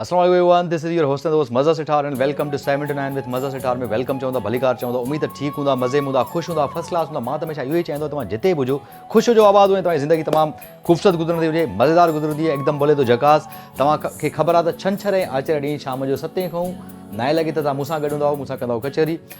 السلام عليڪم Evan this is your host دوست مزه سٺار and welcome to seventy nine with مزه سٺار ۾ welcome چون ٿا ڀليڪار چون ٿا اميد ته ٺيڪ هوندا مزي ۾ هوندا خوش هوندا فرسٽ ڪلاس هوندا مان ته هميشه اهو ئي چاهيندو توهان جتي به هجو خوش هجو آباد هجو توهان جي زندگي تمام خوبصورت گذرندي هجي مزيدار گذرندي هجي هڪدم بولي ٿو جهڪاس توهان کي خبر آهي ته ڇنڇر ۽ آچر ڏينهن شام جو ستين کان نائين لڳي ته توهان مون سان گڏ هوندا مون سان ڪندا ڪچهري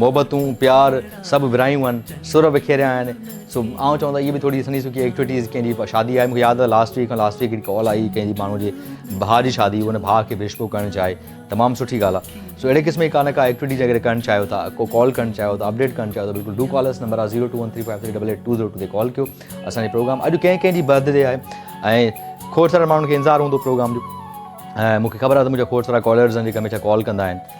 محبتون، پيار سڀ ورهايون آهن، سر وکيريا آهن، سو آئون چوان ته اهي به ٿوري سنهي سکي ايڪٽويٽيز ڪنهن جي شادي آهي مون کي ياد آهي لاسٽ ويڪ کان لاسٽ ويڪ هڪڙي ڪال آئي ڪنهن جي ماڻهو جي ڀاء جي شادي هئي ان ڀاء کي وش پيو ڪرڻ چاهي تمام سٺي ڳالهه آهي سو اهڙي قسم جي ڪا نه ڪا ايڪٽويٽيز اگر ڪرڻ چاهيو ٿا ڪو ڪال ڪرڻ چاهيو ٿا اپڊيٽ ڪرڻ چاهيو ته بلڪل ڊو ڪال اس نمبر آهي zero two one three five three double eight two zero two تي ڪال ڪيو اسان جي پروگرام اڄ ڪنهن ڪنهن جي برٿ ڊي آهي ۽ کوڙ سارا ماڻهن کي انتظار هوندو پروگرام جو ۽ مون کي خبر آهي ته منهنجا کوڙ سارا ڪالرز آهن جيڪي هميشه ڪال ڪندا آهن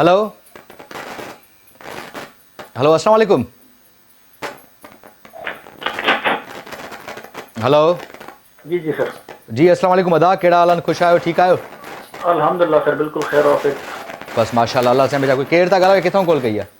هلو هلو السلام عليڪم هلو جي جي سر جي السلام عليڪم ادا ڪهڙا حال آهن خوش آهيو ٺيڪ آهيو الحمدلله سر بلڪل خير آفيت بس ماشاءالله الله سائين بچا ڪير ٿا ڳالهايو ڪٿون ڪال ڪئي آهي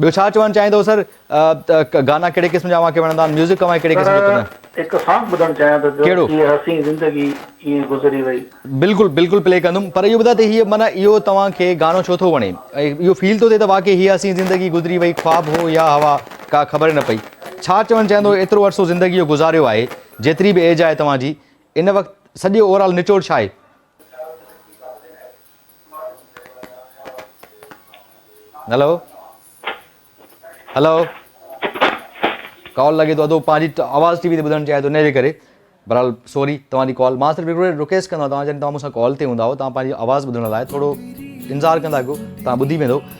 ٻيو ڇا چوڻ چاهيندو سر گانا ڪهڙي قسم جا اوهان کي وڻندا آهن ميوزڪ اوهان کي ڪهڙي قسم جو پسند آهي. سر هڪ سانگ ٻڌڻ چاهيان ٿو جو ڪهڙو. هيء حسين زندگي ائين گذري وئي. بلڪل بلڪل پلي ڪندم پر اهو ٻڌاء ته هيء معنيٰ اهو توهان کي گانو ڇو ٿو وڻي اهو فيل ٿو ٿئي ته واقعي هيء حسين زندگي گذري وئي خواب هو يا هوا ڪا خبر نه پئي ڇا چوڻ چاهيندو ايترو عرصو زندگي جو گذاريو آهي جيتري به ايج آهي توهان جي ان وقت سڄي اوور آل نچوڙ ڇا آهي. هلو هلو ڪال لڳي ٿو اڌو پنهنجي آواز ٽي وي تي ٻڌڻ چاهي ٿو ان جي ڪري بهرحال سوري توهان جي ڪال مان صرف هڪڙو رڪويسٽ ڪندو آهيان توهان جڏهن توهان مون سان ڪال تي هوندا تان پنهنجي آواز ٻڌڻ لاء ٿورو انتظار ڪندا ڪيو توهان ٻڌي ويندو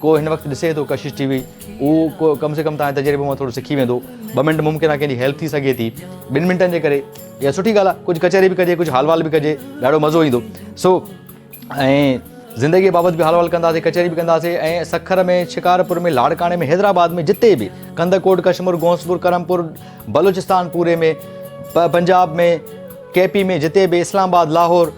ڪو هن وقت ڏسي ٿو ڪشش ٽي وي اهو ڪم سي ڪم تان تجربو مان ٿورو سکي ويندو ٻه منٽ ممڪن آهي ڪنهن جي هيلپ ٿي سگهي ٿي ٻن منٽن جي ڪري اها سٺي ڳالهه آهي ڪجهه ڪچهري به ڪجي ڪجهه حال وال به ڪجي ڏاڍو مزو ايندو سو ۽ زندگي بابت به حال وال ڪنداسي ڪچهري به ڪنداسي ۽ سکر ۾ شڪارپور ۾ لاڙڪاڻي ۾ حيدرآباد ۾ جتي به ڪندڪوٽ ڪشمور گونسپور ڪرمپور بلوچستان پوري ۾ پنجاب ۾ ڪي پي ۾ جتي به اسلام آباد لاهور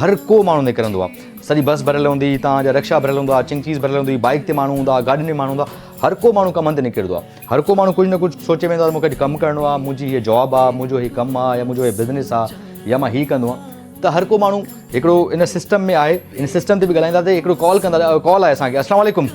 هر ڪو ماڻهو نڪرندو آ سڄي بس ڀريل هوندي هتان جا رڪشا ڀريل هوندا چڱ چيز ڀريل هوندي بائيڪ تي ماڻهو هوندا گاڏين ۾ ماڻهو هوندا هر ڪو ماڻهو ڪم هنڌ نڪرندو آ هر ڪو ماڻهو ڪجهه نه ڪجهه سوچي ويندو آ مون کي اڄ ڪم ڪرڻو آ منهنجي هيء جاب آ منهنجو هي ڪم آ يا منهنجو هي بزنس آ يا مان هي ڪندو آهيان ته هر ڪو ماڻهو هڪڙو ان سسٽم ۾ آهي ان سسٽم تي به ڳالهائيندا ته هڪڙو ڪال ڪندا ڪال آهي اسان کي السلام عليڪم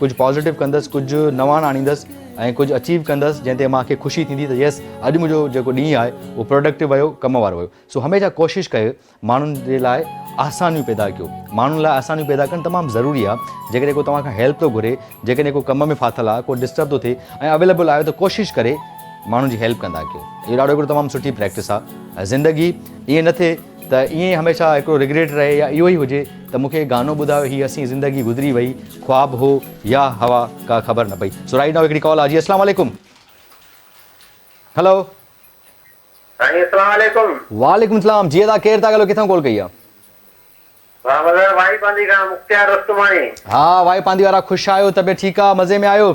ڪجهه پازيٽو ڪندس ڪجهه نواڻ آڻيندس ۽ ڪجهه اچيو ڪندس جنهن تي مان کي خوشي ٿيندي ته يس اڄ منهنجو جيڪو ڏينهن آهي اهو پروڊڪٽو ويو ڪم وارو ويو سو هميشه ڪوشش ڪيو ماڻهن جي لاء آسانيون پيدا ڪيو ماڻهن لاء آسانيون پيدا ڪرڻ تمام ضروري آهي جيڪڏهن ڪو توهان کان هيلپ ٿو گهري جيڪڏهن ڪو ڪم ۾ ڦاٿل آهي ڪو ڊسٽرب ٿو ٿئي ۽ اويليبل آهيو ته ڪوشش ڪري ماڻهن جي هيلپ ڪندا ڪيو اهو ڏاڍو هڪڙو تمام سٺي پريڪٽس آهي زندگي ائين نه ٿئي ته ائين ئي هميشه هڪڙو رگريٽ رهي يا اهو ئي هجي ته مون کي گانو ٻڌايو هي حسين زندگي گذري وئي خواب هو يا هوا ڪا خبر نه پئي سو رائيٽ نائو هڪڙي ڪال آ جي اسلام عليڪم هلو سائين اسلام عليڪم وعليڪم اسلام جي ادا ڪير ٿا ڳالهيو ڪٿان ڪال ڪئي آ ها مظهر وائي پاندي کان مختيار رستماڻي ها وائي پاندي وارا خوش آهيو طبيعت ٺيڪ آ مزي ۾ آهيو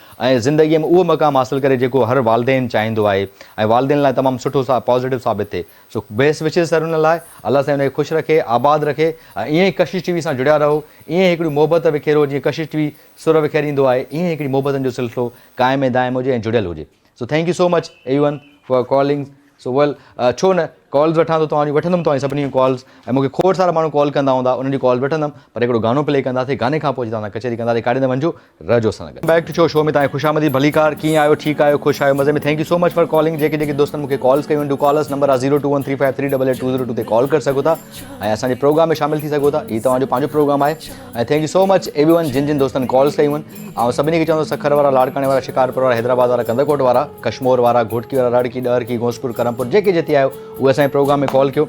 ۽ زندگيء ۾ اهو مقام حاصل ڪري جيڪو هر والدين چاهيندو آهي ۽ والدين لاء تمام سٺو سا پازيٽو ثابت ٿئي سو بيسٽ وشز سر ان لاء الله سائين ان کي خوش رکي آباد رکي ۽ ائين ئي ڪشش ٽي وي سان جڙيا رهو ائين ئي هڪڙي محبت وکيرو جيئن ڪشش ٽي وي سر وکيريندو آهي ائين ئي هڪڙي محبتن جو سلسلو قائم ۽ دائم هجي ۽ جڙيل هجي so thank you so much even for callings so well ڇو نه ڪالز وٺان ٿو توهان جون وٺندم توهان جي سڀني جون ڪالز ۽ مونکي کوڙ سارا ماڻهو ڪال ڪندا هوندا انهن جون ڪالز وٺندم پر هڪڙو گانو پلي ڪنداسي گاني کان پوء جتان اسان ڪچهري ڪنداسي ڪاڏي نه وڃجو رهجو اسان سان گڏ. بيڪ ٽو شو شو ۾ توهان کي خوش آمديد ڀليڪار ڪيئن آهيو ٺيڪ آهيو خوش آهيو مزي ۾ thank you so much for calling جيڪي جيڪي دوستن مون کي ڪالز ڪيون آهن ڊو ڪال اس نمبر آهي zero two one three five three double eight two zero two تي ڪال ڪري سگهو ٿا ۽ اسان جي پروگرام ۾ شامل ٿي سگهو ٿا هي توهان جو پنهنجو پروگرام آهي ۽ thank you so much everyone جن جن دوستن ڪالز ڪيون آهن آئون سڀني کي چوندو سکر وارا لاڙڪاڻي وارا شڪارپور وارا حيدرآباد وارا ڪنڌڪوٽ وارا ڪشمور وارا گهوٽڪي وارا راڙڪي ڏهرڪي غوثپور ڪرمپور جيڪي جتي آهيو اهي اسان جي پروگرام ۾ ڪال ڪيو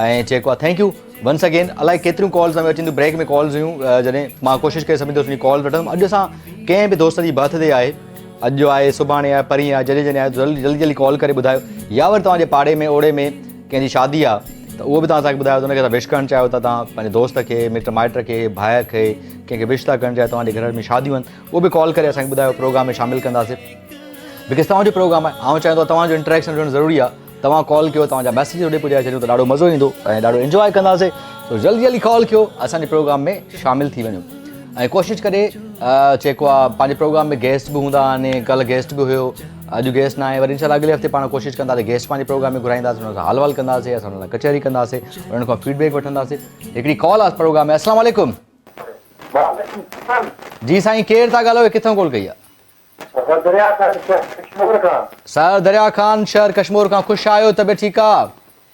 ۽ چيڪو آهي ٿينڪ يو ونس اگين الائي ڪيتريون ڪالز اوهين اچن ٿيون بريڪ ۾ ڪالز هيون جڏهن مان ڪوشش ڪري سڀني دوستن جي ڪالز وٺندم اڄ اسان ڪنهن به دوست جي برٿ ڊي آهي اڄ جو آهي سڀاڻي آهي پرينء آهي جڏهن جڏهن آهي جلدي جلدي ڪال ڪري ٻڌايو يا وري توهان جي پاڙي ۾ اوڙي ۾ ڪنهن جي شادي آ ته اهو به توهان اسان کي ٻڌايو ته ان کي اسان وش ڪرڻ چاهيو ٿا توهان پنهنجي دوست کي مٽ مائٽ کي ڀاء کي ڪنهن کي وش ٿا ڪرڻ چاهيو توهان جي گهر ۾ شاديون آهن اهو به ڪال ڪري اسان کي ٻڌايو پروگرام ۾ شامل ڪنداسي بڪاز توهان جو پروگرام آهي آئون چاهيندو آهيان توهان جو انٽريڪشن هجڻ ضروري آهي توهان ڪال ڪيو توهان جا ميسيج هوڏي پڄائي ڇڏيون ته ڏاڍو مزو ايندو ۽ ڏاڍو انجواء ڪنداسي سو جلدي جلدي ڪال ڪيو اسان جي پروگرام ۾ شامل ٿي وڃو ۽ ڪوشش ڪري جيڪو آهي پنهنجي پروگرام ۾ گيسٽ به هوندا آهن ڪل گيسٽ به هيو اڄ گيسٽ نه آهي وري انشاء الله اڳلي هفتي پاڻ ڪوشش ڪندا ته گيسٽ پنهنجي پروگرام ۾ گهرائينداسين انهن سان حال وال ڪنداسين اسان انهن سان ڪچهري ڪنداسين انهن کان فيڊ بيڪ وٺنداسين هڪڙي ڪال آس پروگرام ۾ السلام عليڪم جي سائين ڪير ٿا ڳالهيو ڪٿان ڪال ڪئي آهي سر دريا خان شهر ڪشمور کان سر دريا خان شهر ڪشمور کان خوش آهيو طبيعت ٺيڪ آهي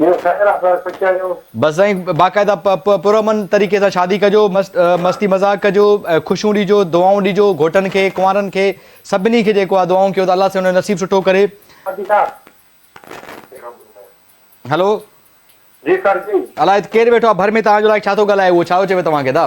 ٻيو خير آ سر خوش آهيو. بس سائين باقاعده پ پ پرامن طريقي سان شادي ڪجو مست مستي مذاق ڪجو خوشيون ڏيجو دعائون ڏيجو گهوٽن کي ڪنوارن کي سڀني کي جيڪو آ دعائون ڪيو ته الله سائين انهن جو نصيب سٺو ڪري. حاجي صاحب هلو جي سر جي. الاء ڪير ويٺو آ ڀر ۾ توهان جو الاء ڇا ٿو ڳالهائي اهو ڇا ٿو چوي توهان کي دا.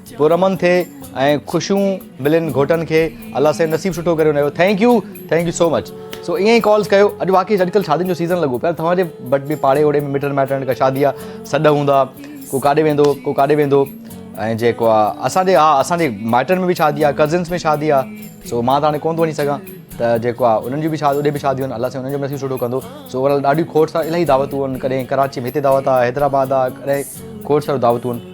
پرامن ٿي ۽ خوشيون ملين گهوٽن کي الله سائين نصيب سٺو ڪري انهن جو thank you thank you so much سو ائين ئي ڪالز ڪيو اڄ واقعي اڄڪلھ شادين جو سيزن لڳو پيا توهان جي وٽ به پاڙي اوڙي ۾ مٽن مائٽن کان شادي جا سڏ هوندا ڪو ڪاڏي ويندو ڪو ڪاڏي ويندو ۽ جيڪو آ اسان جي ها اسان جي مائٽن ۾ به شادي آ ڪزنس ۾ شادي آ سو مان ته هاڻي ڪون ٿو وڃي سگهان ته جيڪو آ انهن جون به شادي اوڏي به شاديون آهن الله سائين انهن جو به نصيب سٺو ڪندو سو اوور آل ڏاڍيون کوڙ سا الاهي دعوتون آهن ڪڏهن ڪراچي ۾ هتي دعوت آ حيدرآباد آ ڪڏهن کوڙ ساريون دعوتون آهن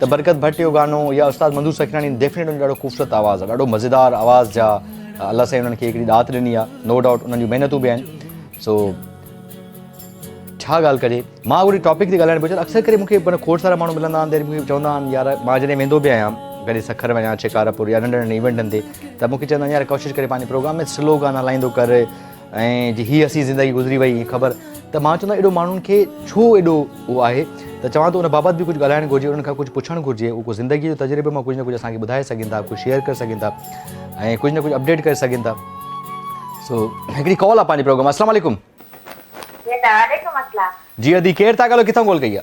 ته برڪت ڀٽ جو گانو يا استاد منظور سکيراڻي ڊيفنيٽ ان جو ڏاڍو خوبصورت آواز ڏاڍو مزيدار آواز جا الله سائين انهن کي هڪڙي ڏات ڏني آ نو ڊاؤٽ انهن جون محنتون به آهن سو ڇا ڳالهه ڪجي مان اهڙي ٽاپڪ تي ڳالهائڻ پيو اڪثر ڪري مونکي مانا کوڙ سارا ماڻهو ملندا آهن مونکي چوندا آهن يار مان جڏهن ويندو به آهيان ڪڏهن سکر وڃان شڪارپور يا ننڍن ننڍن ايونٽن تي ته مونکي چوندا آهن يار ڪوشش ڪري پنهنجي پروگرام ۾ سلو گانا هلائيندو ڪر ۽ جي هي حسين زندگي گذري وئي هي خبر ته مان چوندو ايڏو ماڻهن کي ڇو ايڏو اهو آهي ته چوان ٿو ان بابت به ڪجهه ڳالهائڻ گهرجي انهن کان ڪجهه پڇڻ گهرجي اهو ڪو زندگي جو تجربو مان ڪجهه نه ڪجهه اسان کي ٻڌائي سگهن ٿا ڪجهه شيئر ڪري سگهن ٿا ۽ ڪجهه نه ڪجهه اپڊيٽ ڪري سگهن ٿا سو هڪڙي ڪال آ پنهنجي پروگرام السلام عليڪم وعليڪم السلام جي ادي ڪير ٿا ڳالهيو ڪٿان ڪال ڪئي آ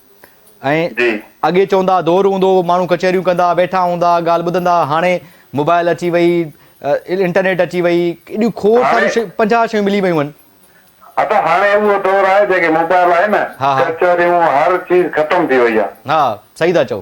۽ اڳي چوندا ها دور هوندو هو ماڻهو ڪچهريون ڪندا ويٺا هوندا ڳالهه ٻڌندا ها هاڻي موبائل اچي وئي انٽرنيٽ اچي وئي ايڏيون کوڙ ساريون شيون پنجاهه شيون ملي ويون آهن. ادا هاڻي اهو دور آهي جيڪي موبائل آهي نه ڪچهريون هر چيز ختم ٿي وئي آهي. ها صحيح ٿا چئو.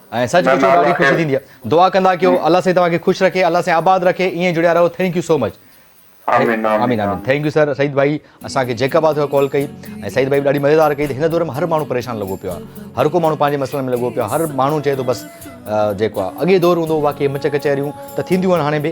۽ سچ پچو ڏاڍي خوشي ٿيندي آ دعا ڪندا ڪيو الله سائين توهان کي خوش رکي الله سائين آباد رکي ايئن جڙيا رهو ٿينڪ يو سو مچ. آمين آمين آمين ٿينڪ يو سر سعيد ڀائي اسان کي جيڪب آ ٿيو ڪال ڪئي ۽ سعيد ڀائي ڏاڍي مزيدار ڪئي ته هن دور ۾ هر ماڻهو پريشان لڳو پيو آ هر ڪو ماڻهو پنهنجي مسئلن ۾ لڳو پيو آ هر ماڻهو چئي ٿو بس جيڪو آ اڳي دور هوندو هو واقعي مچ ڪچهريون ته ٿينديون آهن هاڻي به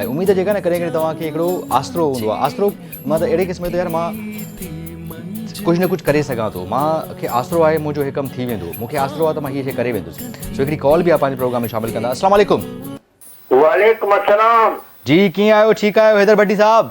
۽ اميد جيڪا نه ڪڏهن ڪڏهن توهان کي هڪڙو آسرو هوندو آهي آسرو مان ته اهڙي قسم جو يار مان ڪجهه نه ڪجهه ڪري سگهان ٿو مان کي آسرو آهي منهنجو هي ڪم ٿي ويندو مون کي آسرو آهي ته مان هي شي ڪري ويندس سو هڪڙي ڪال به پنهنجي پروگرام ۾ شامل ڪندا السلام عليڪم وعليڪم السلام جي ڪيئن آهيو ٺيڪ آهيو حيدر ڀٽي صاحب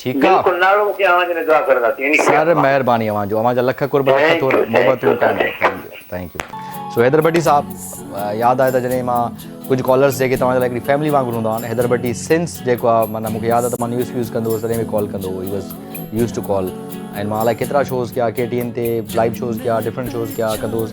ٺيڪ آ. بلڪل ناڙو مون کي اوهان جي لاء دعا ڪرنداسين يعني خير سر الله. مهرباني اوهان جو اوهان جا لک قرب لک ٿينڪ ٿورا يو ٿينڪ محبتون يو ٿينڪ قائم you thank you thank you so Haider Bhatti sahib ياد آهي ته جڏهن مان ڪجهه ڪالرس جيڪي توهان جي لاء هڪڙي فيملي وانگر هوندا آهن حيدر ڀٽي سنس جيڪو آ معنيٰ مون کي ياد آ ته مان نيوز فيوز ڪندو هوس تڏهن به ڪال ڪندو هو he was used to call ۽ مان الائي ڪيترا شوز ڪيا ڪي ٽي اين تي لائيو شوز ڪيا ڊفرنٽ شوز ڪيا ڪندو هوس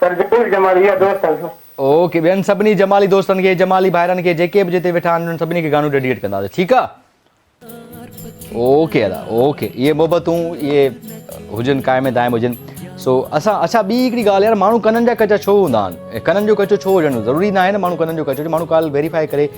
سر ضرور جمالي جا دوست آهيون. اوڪي ٻين سڀني جمالي دوستن کي جمالي ڀائرن کي جيڪي به جتي ويٺا آهن انهن سڀني کي گانو ڊيڊيئيٽ ڪنداسين ٺيڪ آ اوڪي ادا اوڪي اهي محبتون اهي هجن قائم دائم هجن سو اسان اچھا ٻي هڪڙي ڳالهه يار ماڻهو ڪنن جا ڪچا ڇو هوندا آهن ڪنن جو ڪچو ڇو هجڻ ضروري ناهي نه ماڻهو ڪنن جو ڪچو هجي ماڻهو ڪال ويريفائي ڪري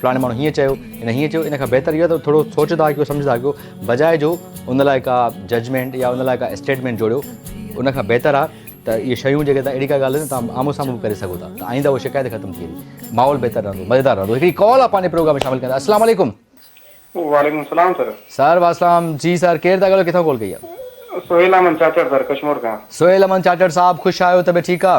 فلاڻي ماڻهو هيئن چيو هن هيئن چيو ان کان بهتر اهو آهي ته ٿورو سوچدا ڪيو سمجهدا ڪيو بجاء جو ان لاء ڪا ججمينٽ يا ان لاء ڪا اسٽيٽمينٽ جوڙيو ان کان بهتر آهي ته اهي شيون جيڪي اهڙي ڪا ڳالهه تان آمو سامو به ڪري سگهو ٿا ته آئنده هو شڪايت ختم ٿي ويندي ماحول بهتر رهندو مزيدار رهندو هڪڙي ڪال آ پنهنجي پروگرام ۾ شامل ڪندا السلام عليڪم وعليڪم السلام سر سر واسلام جي سر ڪير ٿا ڳالهيو ڪٿان ڪال ڪئي آ سهيل احمد چاچڙ سر ڪشمور کان سهيل احمد چاچڙ صاحب خوش آهيو طبيعت ٺيڪ آ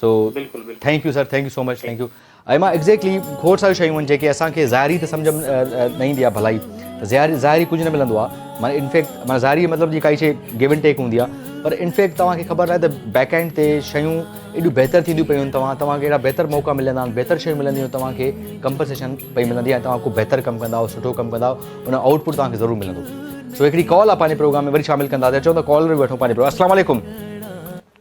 so thank you sir thank you so much thank you اي مان ايگزيڪٽلي کور ساري شيون آهن جيڪي اسان کي ظاهري ته سمجھ نه ايندي آهي ڀلائي ته ظاهري ظاهري ڪجھ نه ملندو آهي مانا انفيڪٽ مانا ظاهري مطلب جي ڪائي شي گيو ان ٽيڪ هوندي آهي پر انفيڪٽ توهان کي خبر آهي ته بيڪ اينڊ تي شيون ايڏيون بهتر ٿينديون پيون توهان توهان کي اهڙا بهتر موقع ملندا آهن بهتر شيون ملنديون توهان کي ڪمپنسيشن پئي ملندي آهي توهان کو بهتر ڪم ڪندا آهو سٺو ڪم ڪندا آهو ان آؤٽ پٽ توهان کي ضرور ملندو سو هڪڙي ڪال آهي پنهنجي پروگرام ۾ وري شامل ڪنداسي چون ته ڪال وٺو پنهنجي پروگرام السلام علیکم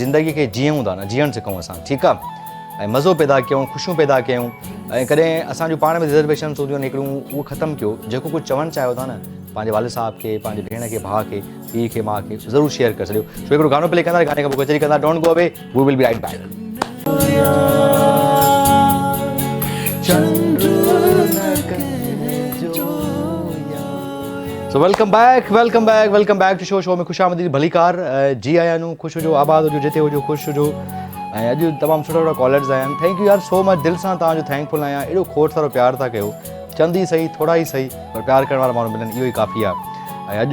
زندگي کي جيئون ٿا نه جيئڻ سکون اسان ٺيڪ آ ۽ مزو پيدا ڪيون خوشيون پيدا ڪيون ۽ ڪڏهن اسان جو پاڻ ۾ ريزرويشنس هونديون آهن هڪڙيون اهو ختم ڪيو جيڪو ڪجهه چوڻ چاهيو ٿا نه پنهنجي والد صاحب کي پنهنجي ڀيڻ کي ڀاء کي پيء کي ماء کي ضرور شيئر ڪري ڇڏيو سو هڪڙو گانو پلي ڪندا گاني کان پوء ڪچهري ڪندا don't go away we will be right back so welcome back welcome back welcome back to show show ۾ خوش آمديد ڀليڪار جي آيا نو خوش هجو آباد هجو جتي هجو خوش هجو ۽ اڄ تمام سٺا سٺا ڪالرز آيا آهن ٿينڪ يو يار سو مچ دل سان توهان جو ٿينڪ فل آهيان اهڙو کوٽ سارو پيار ٿا ڪيو چند ئي صحيح ٿورا ئي صحيح پر پيار ڪرڻ وارا ماڻهو ملن اهو ئي ڪافي آهي ۽ اڄ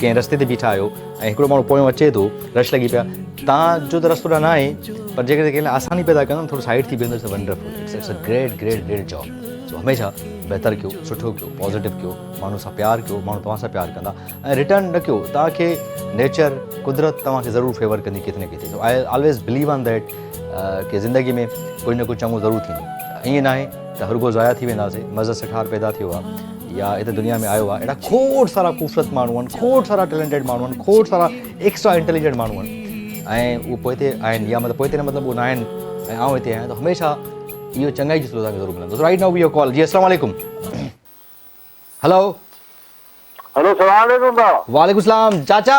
ڪنهن رستي تي بيٺا آهيو ۽ هڪڙو ماڻهو پويان اچي ٿو رش لڳي پيا تان جو ته رستو ڏانهن نه آهي پر جيڪڏهن ڪنهن لاء آساني پيدا ڪيو ٿورو سائيڊ ٿي بيهندو it's wonderful it's it's a great great great job so هميشه بهتر ڪيو سٺو ڪيو پازيٽو ڪيو ماڻهو سان پيار ڪيو ماڻهو توهان سان پيار ڪندا ۽ ريٽرن نه ڪيو توهان کي نيچر قدرت توهان کي ضرور فيور ڪندي ڪٿي نه ڪٿي so I always believe on that ڪي زندگي ۾ ڪجهه نه ڪجهه چڱو ضرور ٿيندو ائين ناهي ته هرگو ضايع ٿي وينداسين مزه سٺار پيدا ٿيو آ يا هت دنيا ۾ آيو آ اهڙا کوڙ سارا خوبصورت ماڻهو آهن کوڙ سارا ٽيلنٽيڊ ماڻهو آهن کوڙ سارا ايڪسٽرا انٽيليجنٽ ماڻهو آهن ۽ اهو پوئتي آهن يا مطلب پوئتي نه مطلب اهو نه آهن ۽ آئون هتي آهيان ته هميشه اهو چڱائي جي سلوڪ ضرور ملندو right now we you call جي السلام عليڪم هلو هلو السلام عليڪم وعليڪم السلام چاچا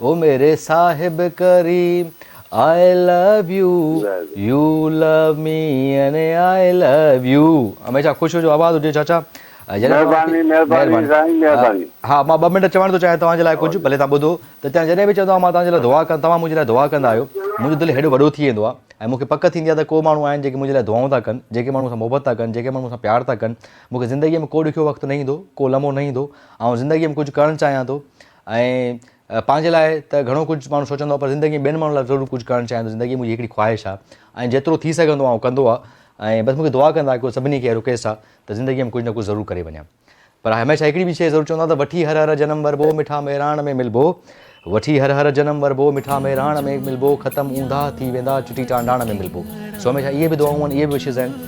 او ميري صاحب ڪريم I love you you love me and I love you هميشه خوش هجو آباد هجو چاچا مهرباني مهرباني سائين مهرباني ها مان ٻه منٽ چوڻ ٿو چاهيان توهان جي لاء ڪجهه ڀلي توهان ٻڌو ته چاچا جڏهن به چوندو آهيان مان توهان جي لاء دعا ڪن توهان منهنجي لاء دعا ڪندا آهيو منهنجو دل هيڏو وڏو ٿي ويندو آهي ۽ مونکي پڪ ٿيندي آهي ته ڪو ماڻهو آهن جيڪي منهنجي لاء دعائون ٿا ڪن جيڪي ماڻهو مون سان محبت ٿا ڪن جيڪي ماڻهو مون سان پيار ٿا ڪن مونکي زندگي ۾ ڪو ڏکيو وقت نه ايندو ڪو لمحو نه ايندو آئون زندگي ۾ ڪجهه ڪرڻ چاهيان ٿو ۽ پنهنجي لاء ته گهڻو ڪجهه ماڻهو سوچندو آهي پر زندگي ۾ ٻين ماڻهن لاء ضرور ڪجهه ڪرڻ چاهيان ٿو زندگي منهنجي هڪڙي خواهش آهي ۽ جيترو ٿي سگهندو آهيان اهو ڪندو آهيان ۽ بس مونکي دعا ڪندا ڪيو سڀني کي اهڙو ڪيس آهي ته زندگي ۾ ڪجهه نه ڪجهه ضرور ڪري وڃان پر هميشه هڪڙي به شيء ضرور چوندو آهيان ته وٺي هر هر جنم وربو مٺا مهراڻ ۾ ملبو وٺي هر هر جنم وربو مٺا مهراڻ ۾ ملبو ختم اونداهه ٿي ويندا چٽي ٽانڊاڻ ۾ ملبو سو هميشه اهي به دعائون اهي به وشز آهن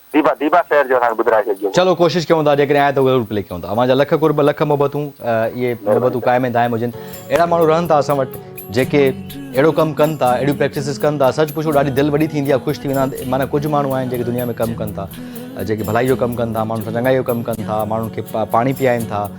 ديبا ديبا شعر جو اسان کي ٻڌرائي ڇڏجو. چلو ڪوشش ڪيون ٿا جيڪڏهن آئي ته ضرور پلي ڪيون ٿا اوهان جا لک قرب لک محبتون اهي محبتون قائم ۽ دائم هجن اهڙا ماڻهو رهن ٿا اسان وٽ جيڪي اهڙو ڪم ڪن ٿا اهڙيون پريڪٽسز ڪن ٿا سچ پڇو ڏاڍي دل وڏي ٿيندي آهي خوش ٿي ويندا آهن معنيٰ ڪجهه ماڻهو آهن جيڪي دنيا ۾ ڪم ڪن ٿا جيڪي ڀلائي جو ڪم ڪن ٿا ماڻهن سان چڱائي جو ڪم ڪن ٿا ماڻهن کي پاڻي پيائن ٿا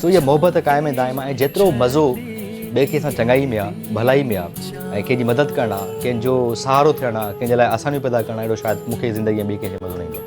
سو هيء محبت قائم ۽ دائم آ ۽ جيترو مزو ٻئي ڪنهن سان چڱائي ۾ آ، ڀلائي ۾ آ ۽ ڪنهن جي مدد ڪرڻ آ، ڪنهن جو سهارو ٿيڻ آ، ڪنهن جي لاء آسانيون پيدا ڪرڻ آ، اهڙو شايد مون کي زندگيء ۾ ٻئي ڪنهن کي مزو نه ايندو.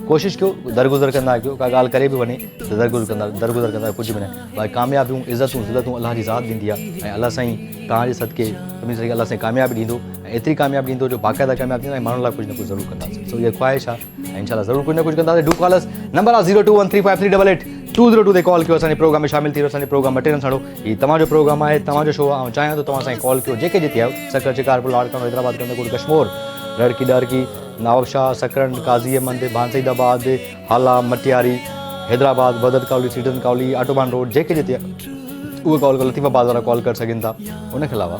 ڪوشش ڪيو، درگذر ڪندا ڪيو، ڪا ڳالهه ڪري به وڃي ته درگذر ڪندا درگذر ڪندا ڪجهه به نه باقي ڪاميابيون، عزتون، ذلتون الله جي ذات ڏيندي آ ۽ الله سائين توهان جي صدقي سڀني صدقي الله سائين ڪاميابي ڏيندو ۽ ايتري ڪاميابي ڏيندو جو باقاعده ڪامياب ٿيندا ۽ ماڻهن لاء ڪجهه نه ڪجهه ضرور ڪنداسين سو اها خواهش آ. انشاء الله ضرور ڪجھ نه ڪجھ ڪنداسين ڊو ڪال اس نمبر آ zero two one three five three double eight two zero two تي ڪال ڪيو اسان جي پروگرام ۾ شامل ٿي رهيو اسان جي پروگرام مٽيرن ساڻو هي توهان جو پروگرام آهي توهان جو شو آهي چاهيان ٿو توهان سائين ڪال ڪيو جيڪي جتي آهيو سکر شڪار پور لاڙڪاڻو حيدرآباد ڪندر ڪوٽ ڪشمور رڙڪي ڏارڪي نواب شاهه سکرن قاضي احمد بانسعيد آباد هالا مٽياري حيدرآباد بدت ڪالي سيٽن ڪالي آٽوبان روڊ جيڪي جتي اهو ڪال ڪر لطيف آباد وارا ڪال ڪري سگهن ٿا ان کي علاوه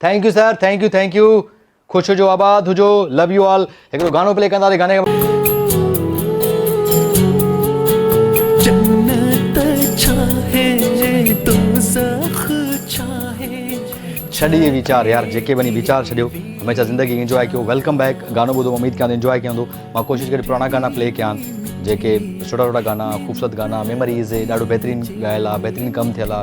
thank you sir thank you thank you خوش هجو آباد هجو لو يو آل هڪڙو گانو پلي ڪندا ته گاني جنت ڇا هي دوزخ ڇا هي ڇڏي ويچار يار جيڪي بني ويچار ڇڏيو هميشه زندگي انجوائي ڪيو ويلڪم بيڪ گانو ٻڌو اميد ڪيان انجوائي ڪيان ٿو مان ڪوشش ڪري پراڻا گانا پلي ڪيان جيڪي سٺا سٺا گانا خوبصورت گانا ميموريز ڏاڍو بهترين ڳايل آ بهترين ڪم ٿيل آ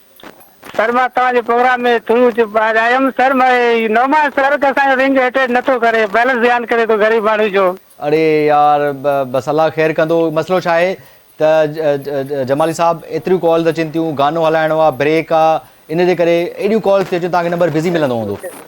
سر مان توهان جي پروگرام ۾ ٿرو چپ ٻاهر آيم سر م نعمان سر ڪه اسان جو رنگ اٽينڊ نٿو ڪري بئلنس ڌيان ڪري ٿو غريب ماڻهو جو. اڙي يار بس الله خير ڪندو مسئلو ڇا آهي ته جمالي صاحب ايتريون ڪالز اچين ٿيون گانو هلائڻو آ بريڪ آ ان جي ڪري ايڏيون ڪالز ٿي اچن توهان کي نمبر بزي ملندو هوندو.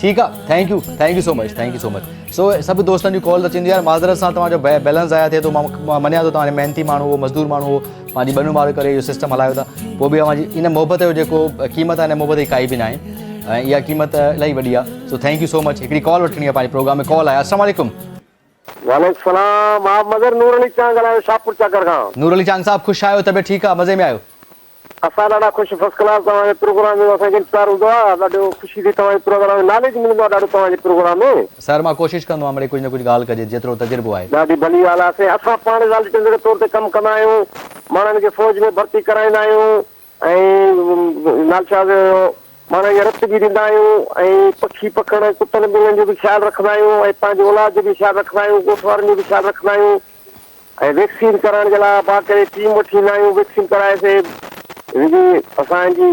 ٺيڪ آ thank you thank you so much thank you so much so سڀ دوستن جون ڪال اچن يار معذرت سان توهان جو بيلنس ضايع ٿئي ٿو مان مڃيان ٿو توهان محنتي ماڻهو مزدور ماڻهو پنهنجي ٻنو ماڙو ڪري اهو سسٽم هلايو ٿا پوء به اوهان ان محبت جو جيڪو قيمت آهي ان محبت جي ڪائي به ناهي ۽ اها قيمت الاهي وڏي آ so thank you so much هڪڙي ڪال وٺڻي آ پنهنجي پروگرام ۾ ڪال آهي السلام عليڪم وعليڪ سلام آب مظهر نور علي چانگ ڳالهايان شاهپور چاڪر کان. نور علي چانگ صاحب خوش آهيو طبيعت ٺيڪ آ مزي ۾ آهيو. اسان ڏاڍا خوش فرسٽ ڪلاس توهان جي پروگرام جو اسان کي انتظار هوندو آ ڏاڍو خوشي ٿي توهان جي پروگرام ۾ ناليج ملندو آ ڏاڍو توهان جي پروگرام ۾. سر مان ڪوشش ڪندو آهيان مڙئي ڪجهه نه ڪجهه ڳالهه ڪجي جيترو تجربو آهي. ڏاڍي ڀلي ڳالهه آهي سائين اسان پاڻ والٽينز جي طور تي ڪم ڪندا آهيون ماڻهن کي فوج ۾ ڀرتي ڪرائيندا آهيون. ۽ نال شاهه جو هيو، پاڻ اڃا رت به ڏيندا آهيون ۽ پکي پکڻ ۽ ڪتن ٻلين جو به خيال رکندا آهيون ۽ پنهنجي اولاد جو به خيال رکندا آهيون، ڳوٺ وارن جو به خيال رکندا آهيون ۽ ويڪسين ڪرائڻ جي لاء با ڪري ٽيم وٺي ايندا آهيون، ويڪسين ڪرائي سي جي اسان جي.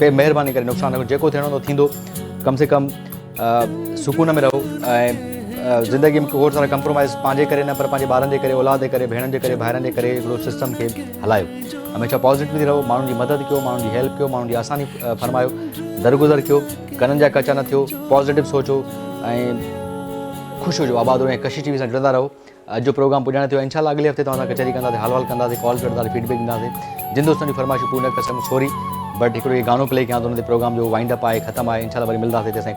پير مهرباني ڪري نقصان نه ڪيو جيڪو ٿيڻو هوندو ٿيندو ڪم سي ڪم سڪون ۾ رهو ۽ زندگي ۾ ڪوڙ سارا ڪمپرومائز پنهنجي ڪري نه پر پنهنجي ٻارن جي ڪري اولاد جي ڪري ڀيڻن جي ڪري ڀائرن جي ڪري هڪڙو سسٽم کي هلايو هميشه پازيٽو ٿي رهو ماڻهن جي مدد ڪيو ماڻهن جي هيلپ ڪيو ماڻهن جي آساني فرمايو درگذر ڪيو ڪنن جا ڪچا نه ٿيو پازيٽو سوچو ۽ خوش هجو آباد رهو ۽ ڪشش ٽي وي سان جڙندا رهو اڄ جو پروگرام پڄاڻي ٿيو انشاء الله اڳلي هفتي توهان سان ڪچهري ڪنداسين حال وال ڪنداسين ڪالز وٺنداسين فيڊ بيڪ ڏينداسين جن دوستن جون فرمائشون پوريون نه ڪري سگهيم سوري بٽ هڪڙو هي گانو پلي ڪيان ٿو ان تي پروگرام جو وائنڊ اپ آهي ختم آهي انشاء الله وري ملنداسين تيسين